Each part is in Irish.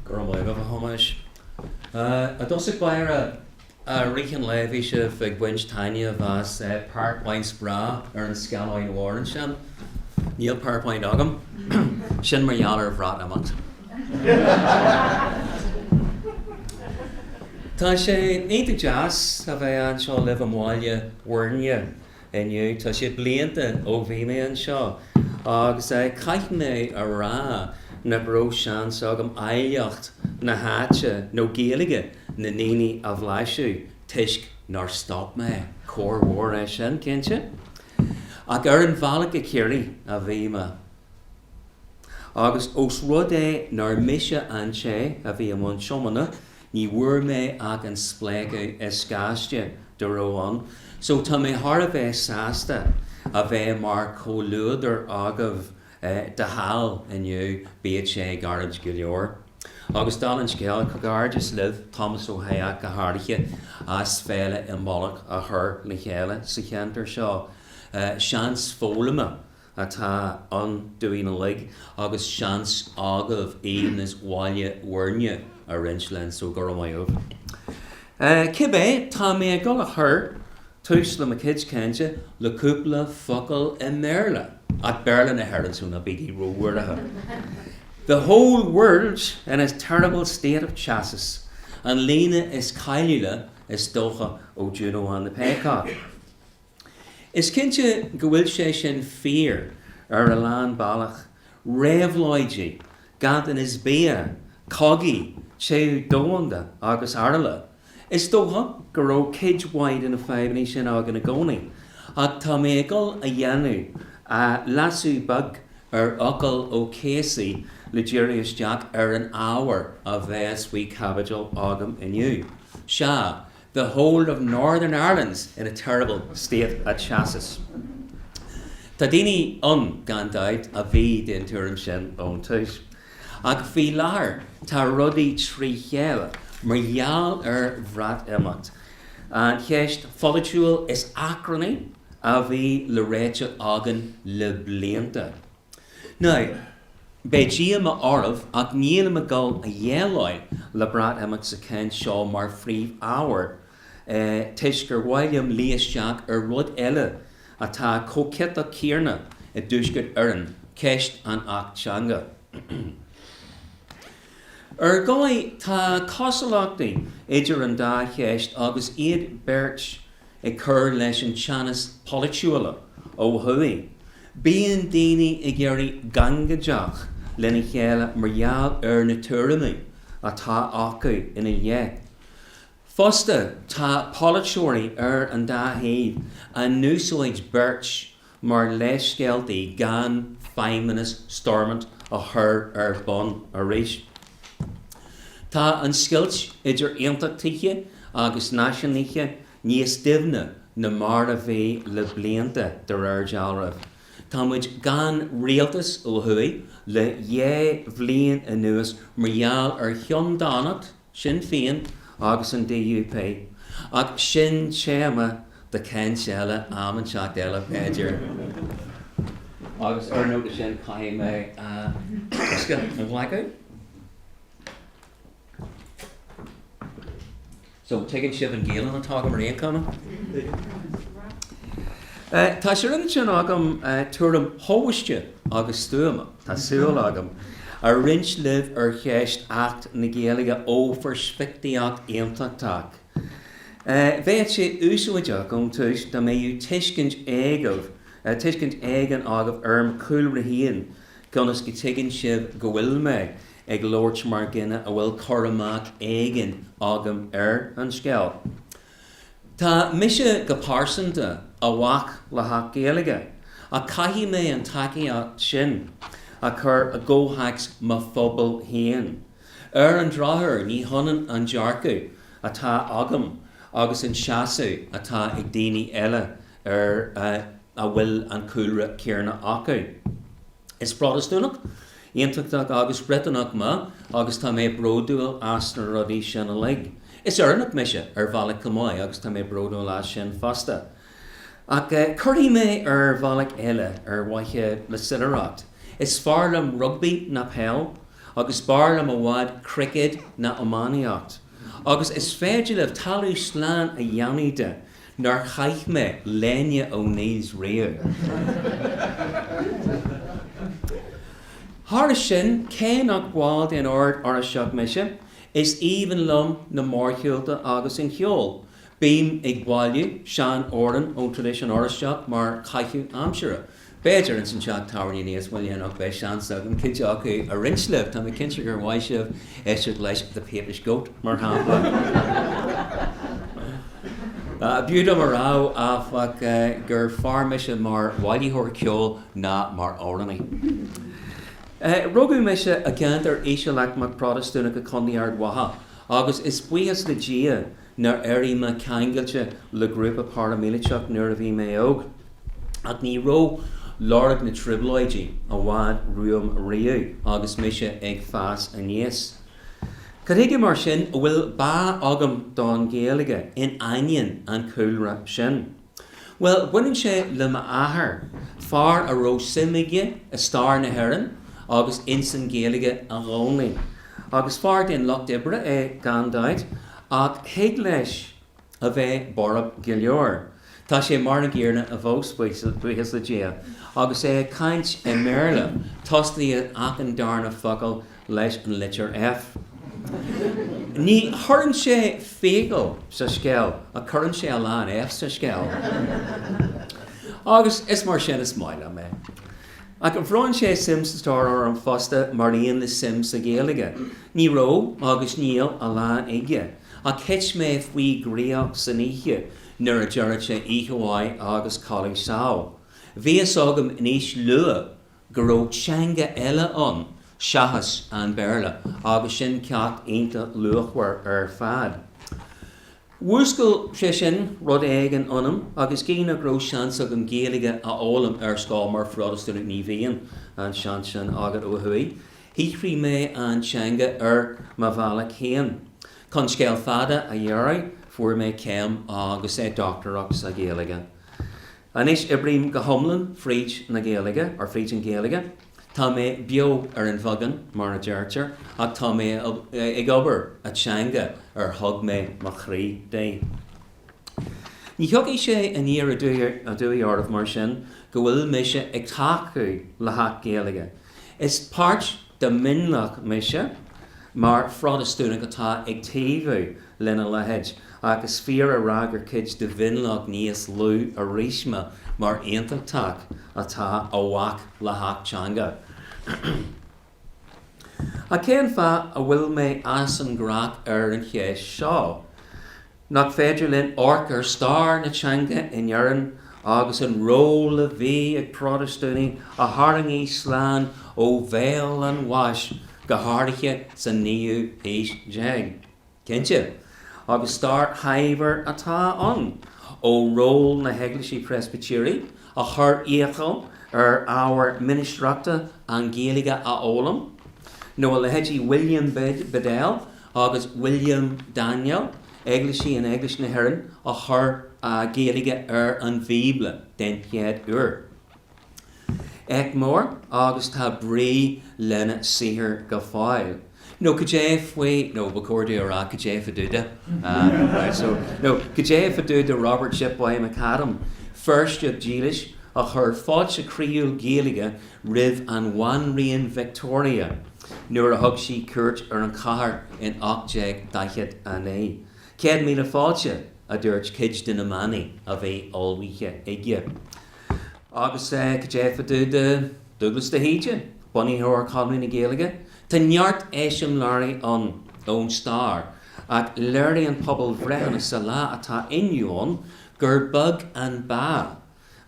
Go raibh maith agat, a Thomáis. I dtosach báire, a Rich an raibh sibh ag baint taitneamh as PowerPoints breá ar an scáileán mhór ansin, níl PowerPoint agam, sin mar gheall ar Bhreatimeacht. Tá sé iontach deas a bheith anseo libh i mBaile Bhuirne. Inniu, tá sé blianta ó bhí mé anseo, agus caithfidh mé a rá nach raibh seans agam áilleacht na háite nó Gaeilge na ndaoine a bhlaiseadh, toisc nár stop mé. Coir mhór é sin, cinnte, ach ar an bhealach go Ciarraí a bhí mé, agus ós rud é nár mise an té a bhí i mbun tiomána, Ní bhfuair mé ach an spléachadh is gaiste dá raibh ann so tá mé thar a bheith sásta a bheith mar chomhluadar agaibh de sheal inniu, bíodh sé gairid go leor. Agus dála an scéil, comhghairdeas libh, Tomás Ó hEách go háirithe, as Féile Imbolc a chur le chéile sa cheantar seo. Seans foghlama atá ann dúinn uilig agus seans agaibh aoibhneas Bhaile Bhuirne a roinnt linn, so go raibh maith agat. Cibé, tá mé ag dul a chur tús le mo chuid cainte le cúpla focal i mBéarla, ach Béarla na hÉireann, so ná bígí róbhuartha. The whole world's in a terrible state of chassis, an líne is cáiliúla, is dócha, ó Juno and the Paycock. Is cinnte go bhfuil sé sin fíor ar a lán bealach, réabhlóidí, ganntanas bia, cogaí, téamh domhanda agus araile. Is dócha go raibh cuid mhaith de na fadhbanna sin againn i gcónaí, ach tá mé ag dul a dhéanamh leasú beag ar fhocal O'Casey le díriú isteach ar an ábhar a bheas faoi chaibidil agam inniu. Sea. The whole of Northern Ireland's in a terrible state of chassis. Tá daoine ann, gan dabht, a bhí den tuairim sin ón tús, ach faoi láthair tá rudaí trí chéile mar gheall ar Bhreatimeacht, an cheist pholaitiúil is achrannaí a bhí le réiteach againn le blianta. Now, beidh díoma oraibh, ach nílim ag dul a dhéileáil le Breatimeacht sa chaint seo mar phríomhábhar, toisc gur mhaith liom díriú isteach ar rud eile atá chomh ciotach céarna i dTuaisceart Éireann, ceist an Acht Teanga. Ar ndóigh, tá cosúlachtaí idir an dá cheist agus iad beirt ag cur leis an teannas polaitiúil ó thuaidh. Bíonn daoine ag éirí gangaideach lena chéile mar gheall ar na tuairimí atá acu ina leith. Fosta, tá polaiteoirí ar an dá thaobh á n-úsáid beirt mar leithscéalta gan feidhmeannas Stormont a chur ar bun arís. Tá an scoilt idir aontachtaithe agus náisiúnaithe níos doimhne ná mar a bhí le blianta, de réir dealraimh. Tá muid gan rialtas ó thuaidh le dhá bhliain anuas mar gheall ar cheanndánacht Shinn Féin agus an DUP, ach sin téama do chaint eile am inteacht eile b'fhéidir. Agus ar an nóta sin caithfidh mé bosca a ghlacadh. Go tuigeann sibh an Gaolainn atá agam ar aon chuma. Tá sé rinne sin agam tuairim thomhaiste agus stuama. Tá súil agam a roinnt libh ar cheist Acht na Gaeilge ó pheirspictíocht Aontachtach. Bheadh sé úsáideach ón tús dá mbeadh tuiscint agaibh, tuiscint éigin agaibh ar mo chúlra féin ionas go tuigeann sibh go bhfuil mé ag labhairt mar dhuine a bhfuil cur amach éigin agam ar an scéal. Tá mise go pearsanta i bhfách le hAcht Gaeilge, ach caithfidh mé an tacaíocht sin a chur i gcomhtheacs mo phobail fhéin. Ar an drochuair ní hionann an dearcadh atá agam agus an seasamh atá ag daoine eile a bhfuil an cúlra céanna acu. Is Protastúnach, Aontachtach agus Briotanach mé agus tá mé bródúil as na rudaí sin uilig. Is Éireannach mise ar bhealach chomh maith agus tá mé bródúil as sin fosta. Ach cuirfidh mé ar bhealach eile, ar mhaithe le soiléireacht, is fearr liom rugbaí ná peil agus b'fhearr liom i bhfad cruicéad ná iománaíocht. Agus is féidir libh talamh slán a dhéanamh de nár chaith mé léine O'Neills riamh. Thairis sin, cé nach ball den Ord Oráisteach mise, is aoibhinn liom na mórshiúlta agus an ceol. Bím ag bailiú sean-amhrán ón traidisiún Oráisteach mar chaitheamh aimsire. B'fhéidir ins an teach tábhairne níos moille anocht beidh seans agam cuid acu a roinnt libh, tá mé cinnte gur mhaith libh éisteacht leis The Papist Goat mar shampla. B'fhiú dom a rá, áfach, gur fearr mise mar bhailitheoir ceoil ná mar amhránaí. Rugadh mise i gceantar ísealaicmeach Protastúnach i Contae Ard Mhacha agus is buíochas le Dia nár éirigh mé ceangailte le grúpa paraimíliteach nuair a bhí mé óg, ach ní raibh lorg na trioblóidí i bhfad romham riamh agus mise ag fás aníos. Cad chuige mar sin a bhfuil bá agam don Ghaeilge in aineoinn an chúlra sin? Bhuel, baineann sé le m'athair, fear a raibh suim aige i stair na hÉireann agus ins an Ghaeilge i gcónaí. Agus fear den lucht oibre é, gan dabht, ach thig leis a bheith borb go leor. Tá sé mar an gcéarna ar an bhfón, buíochas le Dia. Agus é ag caint i mBéarla, tosaíonn achan darna focal leis an litir F. Ní chuireann sé fiacail sa scéal ach cuireann sé a lán Fs sa scéal. Agus is mar sin is maith liom é. Ach bhronn sé suim sa stair orm fosta mar aon le suim sa Ghaeilge. Ní raibh, agus níl, a lán aige, ach thit mé faoi dhraíocht san oíche nuair a deireadh sé oíche mhaith agus codladh sámh. Bhí fhios agam ansin go luath go raibh teanga eile ann seachas an Béarla agus sin ceacht iontach luachmhar ar fad. Mhúscail sé sin rud éigin ionam agus gidh nach raibh seans agam Gaeilge a fhoghlaim ar scoil mar Phrotastúnach ní bhíonn an seans sin agad ó thuaidh. Shaothraigh mé an teanga ar mo bhealach féin. Chun scéal fada a ghiorrú fuair mé céim agus dochtúireacht sa Ghaeilge. Anois oibrím go hiomlán fríd na Gaeilge, or fríd an Ghaeilge. Tá mé beo ar an bheagán, mar a deirtear, ach tá mé ag obair i dteanga ar thug mé mo chroí di. Ní thiocfaidh sé aniar aduaidh oraibh mar sin go bhfuil mise ag tacú le hAcht Gaeilge. Is páirt de mhionlach mise, mar Phrotastúnach atá ag taobhú lena leithéid, ach is fíor a rá gur cuid de mhionlach níos lú arís mé mar aontachtach atá i bhfách le hAcht Teanga. Ach cén fáth a bhfuil mé aisteach ar an cheist seo? Nach féidir linn amharc ar stair na teanga in Éirinn agus an ról a bhí ag Protastúnaigh a tharraing í slán ó bhéal an bháis, go háirithe sa naoú haois déag? Cinnte, agus stair shaibhir atá ann, ó ról na hEaglaise Preispitéirí a chuir iachall ar ábhair ministreachta an Ghaeilge a fhoghlaim, nó a leithéidí William Bedell agus William Daniel, eaglaisigh in Eaglais na hÉireann a chuir Gaeilge ar an Bhíobla den chéad uair. Éacht mór agus tá brí lena saothar go fóill. Nó cad é faoi, nó ba chóir dom a rá cad é fá dtaobh de? right so, nó cad é fá dtaobh de Robert Shipboy McAdam, Feirsteach dílis a chuir fáilte chroíúil Gaeilge roimh an Bhanríon Victoria nuair a thug sí cuairt ar an chathair in 1849. Céad míle fáilte, a dúirt cuid de na manaí a bhí ullmhaithe aige. Agus cad é fá dtaobh de Dúglas de hÍde, bunaitheoir Chonradh na Gaeilge? Tá neart eiseamláirí ann ón stair, ach léiríonn pobalbhreitheanna sa lá atá inniu ann gur beag an bhá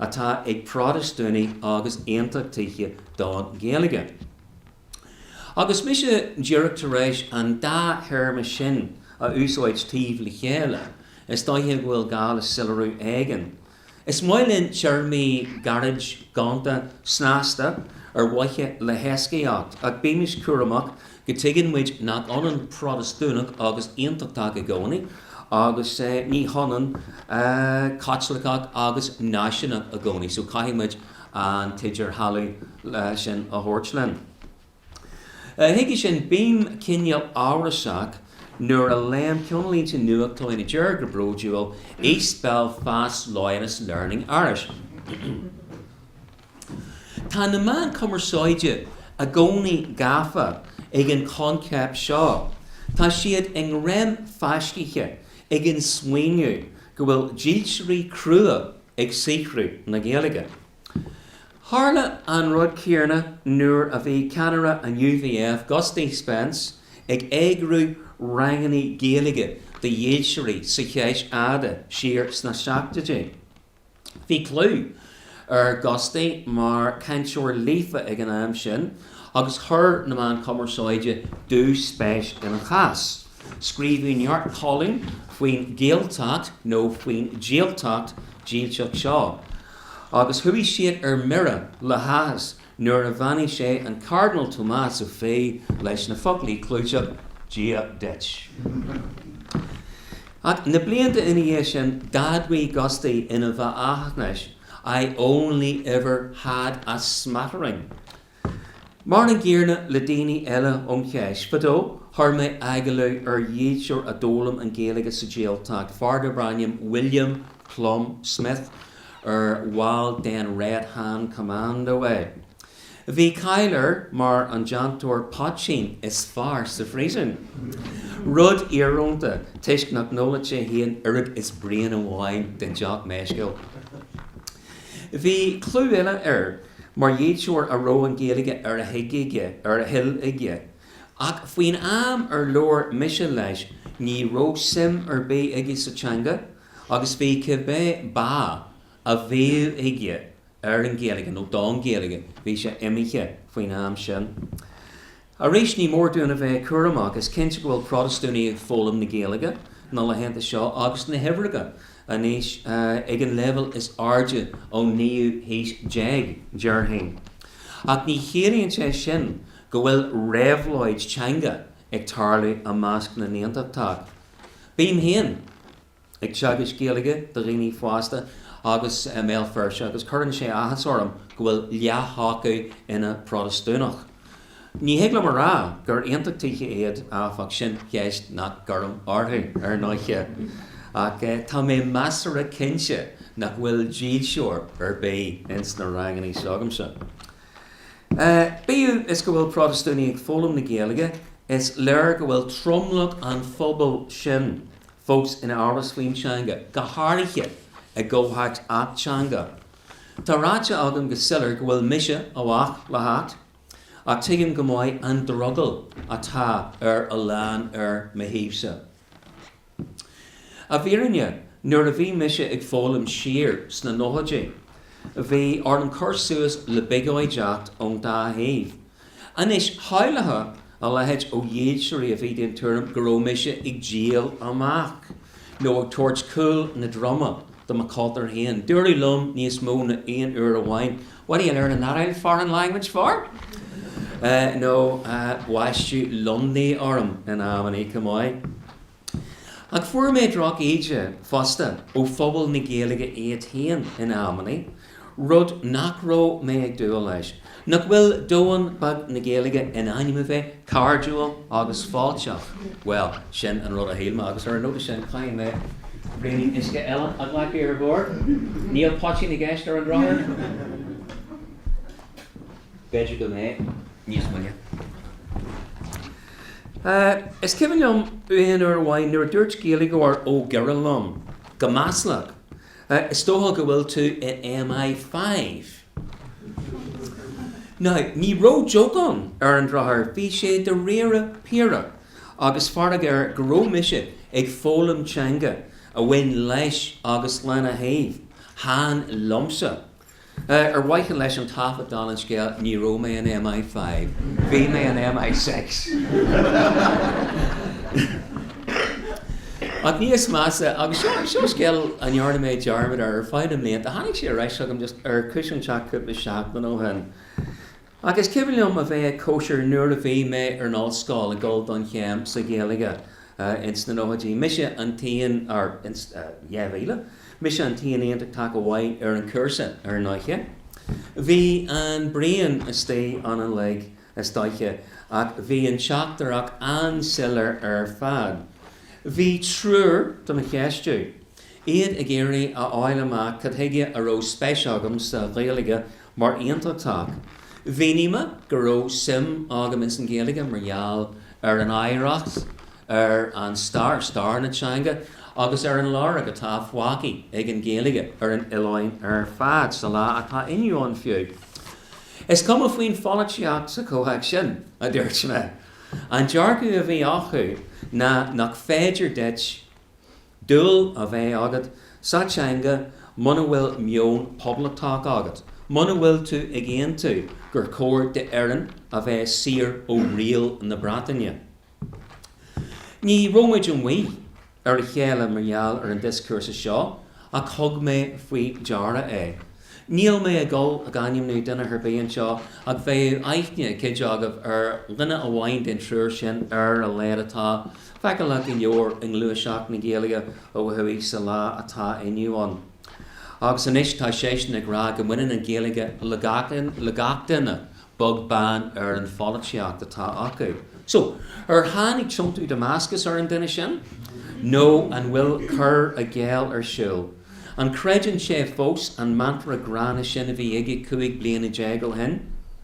atá ag Protastúnaigh agus Aontachtaithe don Ghaeilge. Agus mise díreach tar éis an dá théarma sin a úsáid taobh le chéile, is dóiche go bhfuil gá le soiléiriú éigin. Is maith linn téarmaí gairid, gonta, snasta, ar mhaithe le héascaíocht, ach bímis cúramach go dtuigeann muid nach ionann Protastúnach agus Aontachtach i gcónaí, agus ní hionann Caitliceach agus Náisiúnach i gcónaí, so caithfidh muid an t-idirdhealú sin a thabhairt linn. Chuige sin, bím cineál amhrasach nuair a léim cinnlínte nuachtáin a deir go bródúil East Belfast loyalists learning Irish. Tá na meáin cumarsáide i gcónaí gafa ag an choincheap seo. Tá siad i ngreim fáiscithe ag an smaoineamh go bhfuil dílseoirí crua ag saothrú na Gaeilge. Tharla an rud céarna nuair a bhí ceannaire an UVF, Gusty Spence, ag eagrú rangannaí Gaeilge do dhílseoirí sa Cheis Fhada siar sna seachtóidí. Bhí clú ar Ghusty mar chainteoir líofa ag an am sin agus chuir na meáin chumarsáide dúspéis ina chás. Scríobhadh neart colún faoin Ghaeltacht nó faoin jailtacht dhílseach seo. agus chuaigh siad ar mire le háthas nuair a bheannaigh sé an Cairdinéal Tomás Ó Fiaich leis na foclaí clúiteacha Dia duit. Ach na blianta ina dhiaidh sin d'admhaigh Gusty ina bheathaisnéis I only ever had a smattering. Mar an gcéanna le daoine eile ón Cheis Fhada, chuir mé agallamh ar dhílseoir a d'fhoghlaim an Ghaeilge sa Ghaeltacht, fear darb ainm William Plum Smith, ar bhall den Red Hand Commando é. Bhí cáil air mar an déantóir poitín is fearr sa phríosún, rud íorónta toisc nach n-ólann sé fhéin oiread is braon amháin den deoch mheisciúil. Bhí clú eile air mar dhílseoir a raibh an Ghaeilge ar a thig aige, ar a thoil aige, ach faoin am ar labhair mise leis ní raibh suim ar bith aige sa teanga agus bhí cibé bá a bhíodh aige ar an Ghaeilge nó don Ghaeilge bhí sé imithe faoin am sin. Arís ní mór dúinn a bheith cúramach. Is cinnte go bhfuil Protastúnaigh ag foghlaim na Gaeilge na laethanta seo agus na huimhreacha anois ag an léibheal is airde ón naoú haois déag, déarfainn. Ach ní chiallaíonn sé sin go bhfuil réabhlóid teanga ag tarlú i measc na nAontachtach. Bím féin. ag teagasc Gaeilge do dhaoine fásta agus i mBéal Feirste agus cuireann sé áthas orm go bhfuil leath acu ina bProtastúnaigh. Ní thig liom a rá gur aontachtaithe iad áfach, sin ceist nach gcuirim orthu, ar ndóiche, ach tá mé measartha cinnte nach bhfuil dílseoir ar bith ins na ranganna s'agamsa. Bíodh is go bhfuil Protastúnaigh ag foghlaim na Gaeilge, is léir go bhfuil tromlach an phobail sin Fós in amhras faoin teanga, go háirithe i gcomhthéacs acht teanga, tá ráite agam go soiléir go bhfuil mise i bhfách le hacht, ach tuigim go maith an drogall atá ar a lán ar mo thaobhsa. I bhfírinne, nuair a bhí mise ag foghlaim siar sna nóchaidí, bhí orm cur suas le biogóideacht ón dá thaobh, Anois, shamhlófá a leithéid ó dhílseoirí a bhí den tuairim go raibh mise ag díol amach nó ag tabhairt cúl mo dhroma do mo chultúr féin. Dúradh liom níos mó ná aon uair amháin What are you learning that old foreign language for? nó baisteadh Lundy orm in amannaí chomh maith. Ach fuair mé drochíde fosta ó phobal na Gaeilge iad féin in amannaí, rud nach raibh mé ag dúil leis. Nach bhfuil domhan beag na Gaeilge in ainm a bheith cairdiúil agus fáilteach? Bhuel, sin an rud a shíl mé agus ar an nóta sin caithfidh mé braoinín uisce eile a ghlacadh ar bhord. Níl poitín i gceist ar an drochuair. B'fhéidir go mbeidh níos moille. Is cuimhin liom aon uair amháin nuair a dúirt Gaeilgeoir ó Dhoire liom go maslach, Is dócha go bhfuil tú i MI5! Now, ní raibh ag jokeáil, ar an drochuair, bhí sé dáiríre fíre agus fearg air go raibh mise ag foghlaim teanga a bhain leis agus lena thaobh. Chan liomsa. Ar mhaithe leis an taifead dála an scéil, ní raibh mé in MI five, bhí mé in MI six! Ach níos measa, agus seo scéal a ndearna mé dearmad air ar feadh na mblianta, tháinig sé ar ais chugam just ar chúis inteacht cúpla seachtain ó shin. Ach is cuimhin liom a bheith ag cóisir nuair a bhí mé ar an ollscoil ag dul don chéim sa Ghaeilge ins na nóchaidí. Mise an t-aon, or 2000, mise an t-aon Aontachtach a bhí ar an cúrsa ar ndóiche. Bhí an braon istigh uilig, is dóiche, ach bhí an teachtaireacht an-soiléir ar fad. Bhí triúr do mo cheistiú, iad ag iarraidh a fháil amach cad chuige a raibh spéis agam sa Ghaeilge mar Aontachtach. Mhínigh mé go raibh suim agam ins an Ghaeilge mar gheall ar an oidhreacht, ar an stair, stair na teanga, agus ar an lorg atá fágtha ag an Ghaeilge ar an oileán ar fad sa lá atá inniu ann fiú. Is cuma faoin pholaitíocht sa chomhthéacs sin, a dúirt mé. An dearcadh a bhí acu ná nach féidir duit, dúil a bheith agat sa teanga muna bhfuil meon poblachtach agat, muna bhfuil tú ag aontú gur chóir d'Éirinn a bheith saor ó riail na Breataine. Ní raibh muid amuigh ar a chéile mar gheall ar an dioscúrsa seo ach thug mé faoi deara é. Níl mé ag dul ag ainmniú duine ar bith anseo ach bheadh aithne ag cuid agaibh ar dhuine amháin den triúr sin ar a laghad atá feiceálach go leor i ngluaiseacht na Gaeilge ó thuaidh sa lá atá inniu ann agus anois tá seisean ag rá go mbaineann an Ghaeilge le gach duine. beag beann ar an pholaitíocht atá acu. So, ar tháinig tiontú Damascus ar an duine sin? Nó an bhfuil cur i gcéill ar siúl? An gcreideann sé fós an mantra gránna sin a bhí aige cúig bliana déag ó shin?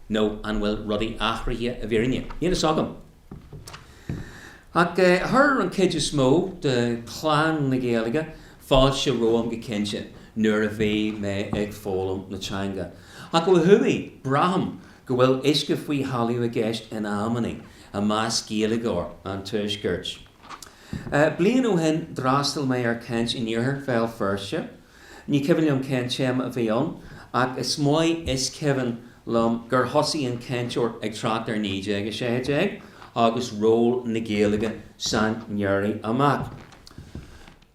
Nó an bhfuil rudaí athraithe i bhfírinne? Níl fhios agam. Ach chuir an chuid is mó de chlann na Gaeilge fáilte romham go cinnte nuair a bhí mé ag foghlaim na teanga. Ach ó thuaidh, braithim go bhfuil uisce faoi thalamh i gceist in amannaí i measc Gaeilgeoirí an tuaiscirt. Bliain ó shin d'fhreastal mé ar chaint in iarthar Bhéal Feirste Ní cuimhin liom cén téama a bhí ann ach is maith is cuimhin liom gur thosaigh an cainteoir ag trácht ar 1916 agus ról na Gaeilge san éirí amach.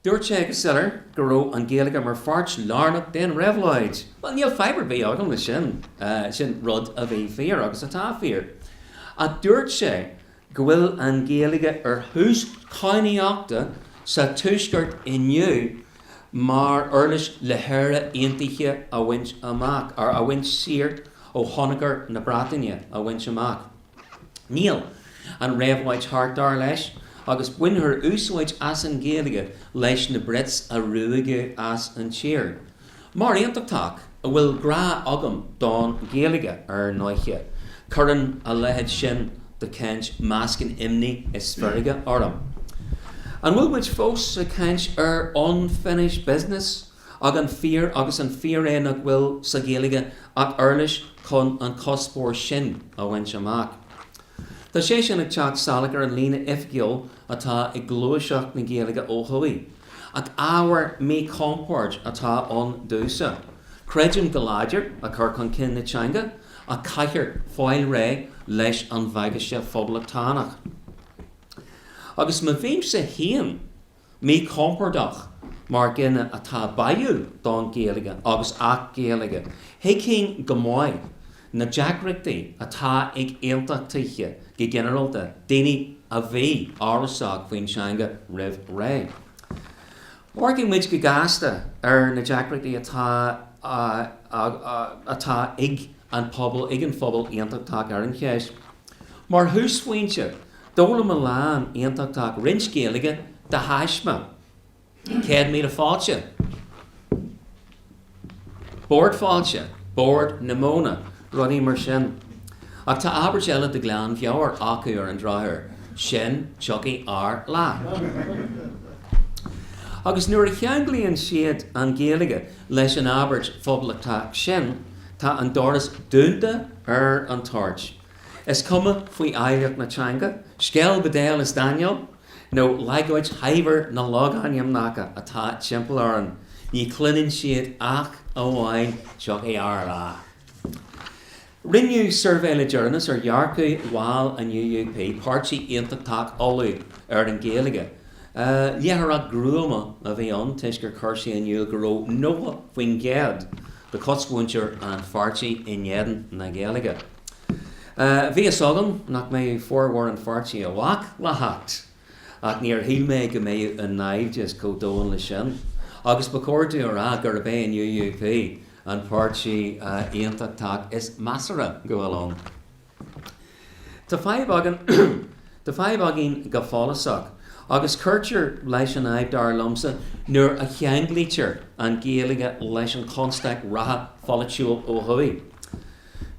Dúirt sé go soiléir go raibh an Ghaeilge mar pháirt lárnach den réabhlóid! Bhuel, níl fadhb ar bith agam leis sin, sin rud a bhí fíor agus atá fíor. Ach dúirt sé go bhfuil an Ghaeilge ar thús cadhnaíochta sa tuaisceart inniu mar uirlis le hÉire aontaithe a bhaint amach, or a bheith saor ó thionchar na Breataine a bhaint amach. Níl an réabhlóid thart, dar leis, agus bainfear úsáid as an Ghaeilge leis na Brits a ruaigeadh as an tír. Mar Aontachtach a bhfuil grá agam don Ghaeilge ar ndóiche, cuireann a leithéid sin de chaint meascan imní is feirge orm. An bhfuil muid fós ag caint ar unfinished business agus an fíor é nach bhfuil sa Ghaeilge ach uirlis chun an cuspóir sin a bhaint amach? Tá sé sin ag teacht salach ar an líne oifigiúil atá ag gluaiseacht na Gaeilge ó thuaidh. Ach ábhar míchompoird atá ann domhsa. Creidim go láidir i cur chun cinn na teanga ach caithfear fáil réidh leis an bhagaiste phoblachtánach. Agus má bhímse féin míchompordach mar dhuine atá baidhiúil don Ghaeilge agus a bhfuil Gaeilge, thuigfinn go maith na deacrachtaí atá ag Aontachtaithe go ginearálta, daoine a bhí amhrasach faoin teanga roimh ré. Amharcaimis go gasta ar na deacrachtaí atá ag an pobal, ag an phobal Aontachtach ar an cheist. Mar thúsphointe, d'fhoghlaim mo leathán Aontachtach roinnt Gaeilge de thaisme. Céad míle fáilte. Bord fáilte, Bord na Móna, rudaí mar sin. Ach tá abairt eile de ghlanmheabhair acu ar an drochuair, sin tiocfaidh ár lá. Agus nuair a cheanglaíonn siad an Ghaeilge leis an abairt phoblachtach sin, tá an doras dúnta ar an toirt. Is cuma faoi oidhreacht na teanga, scéal Bedell is Daniel. nó leagáid shaibhir na logainmneacha atá timpeall orainn, ní chluineann siad ach amháin 'Tiocfaidh ár lá' Rinneadh suirbhé le deireanas ar dhearcadh bhaill an UUP, Páirtí Aontachtach Uladh, ar an Ghaeilge. Léitheoireacht ghruama a bhí ann toisc gur chuir sé in iúl go raibh 90% de chosmhuintir an pháirtí in éadan na Gaeilge. Bhí fhios agam nach mbeadh formhór an pháirtí i bhfách le hacht, ach níor shíl mé go mbeadh an naimhdeas chomh domhain le sin, agus ba chóir domh a rá gurb é an UUP an páirtí aontachtach is measartha go bhfuil ann. Tá fadhb againn go follasach, agus cuirtear leis an fhadhb dar liomsa nuair a cheanglaítear an Ghaeilge leis an chonstaic reatha pholaitiúil ó thuaidh.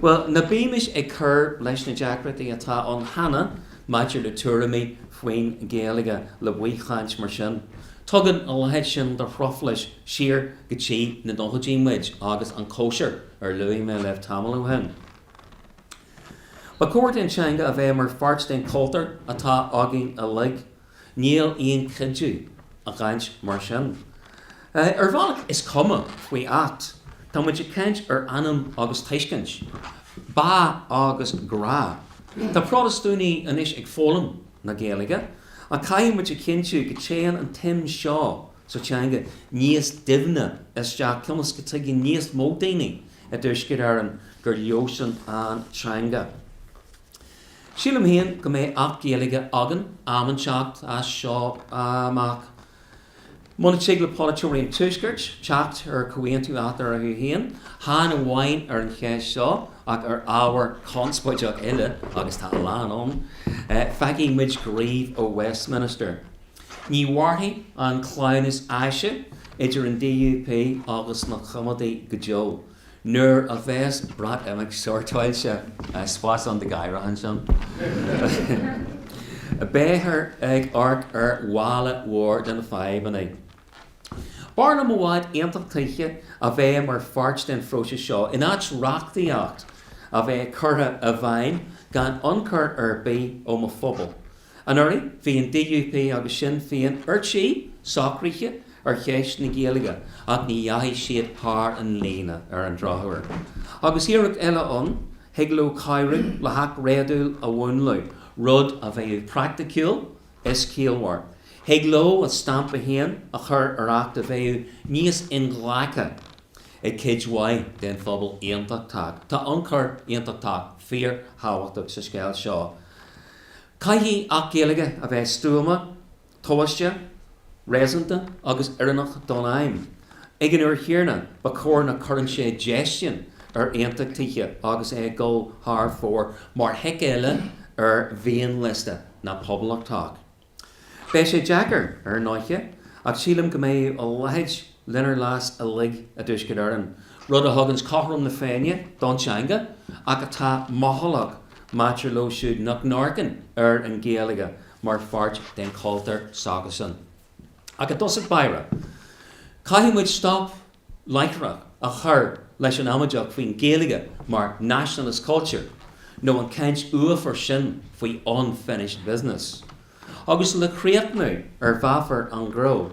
Bhuel, ná bímis ag cur leis na deacrachtaí atá ann cheana maidir le tuairimí faoin nGaeilge le baothchaint mar sin. Tugann a leithéid sin de thruflais siar go dtí na nóchaidí muid agus an chóisir ar luaigh mé libh tamall ó shin. Ba chóir don teanga a bheith mar pháirt den chultúr atá againn uilig. Níl aon chuidiú i gcaint mar sin. Ar bhealach is cuma faoi acht tá muid ag caint ar anam agus tuiscint, bá agus grá. Tá Protastúnaigh anois ag foghlaim na Gaeilge ach caithfidh muid a chinntiú go téann an tsuim seo sa teanga níos doimhne isteach ionas go dtuigeann níos mó daoine i dTuaisceart Éireann gur leosan an teanga. Sílim féin go mbeidh Acht Gaeilge againn am inteacht as seo amach. Muna tig le polaiteoirí an Tuaiscirt teacht ar chomhaontú eatorthu féin, chan amháin ar an cheist seo ach ar ábhair chonspóideach eile, agus tá a lán ann, feicfidh muid gníomh ó Westminster. Ní mhairfidh an cleamhnas áise idir an DUP agus na Coimeádaigh go deo. Nuair a bheas Breatimeacht sórtáilte is spás ann do ghadhra ansin, beifear ag amharc ar mhála mhór de na fadhbanna. B'fhearr liom i bhfad aontachtaithe a bheith mar pháirt den phróiseas seo in áit reachtaíocht a bheith curtha i bhfeidhm gan ionchur ar bith ó mo phobal. Anuraidh bhí an DUP agus Sinn Féin ar tí socraithe ar cheist na Gaeilge ach ní dheachaigh siad thar an líne ar an drochuair. Agus iarracht eile ann, thig leo cabhrú le hacht réadúil a mhúnlú, rud a bheadh praiticiúil is ciallmhar. Thig leo a stampa féin a chur ar acht a bheadh níos inghlactha ag cuid mhaith den phobal aontachtach. Tá ionchur aontachtach fíorthábhachtach sa scéal seo. Caithfidh Acht Gaeilge a bheith stuama, tomhaiste, réasúnta agus oiriúnach don aidhm. Ag an uair chéanna ba chóir nach gcuireann sé déistean ar aontachtaithe agus é ag dul thar fóir mar thic eile ar mhianliosta na bpoblachtach. Beidh sé deacair, ar ndóiche, ach sílim go mbeidh a leithéid lenár leas uilig i dTuaisceart Éireann, rud a thugann cothrom na féinne don teanga ach atá mothálach maidir leo siúd nach n-amharcann ar an Ghaeilge mar pháirt den chultúr s'acusan. Ach i dtosach báire caithfidh muid stop láithreach a chur leis an amaideacht faoin Ghaeilge mar 'nationalist culture' nó an chaint uafar sin faoi 'unfinished business'. Agus le críochnú ar mheafar an ghró,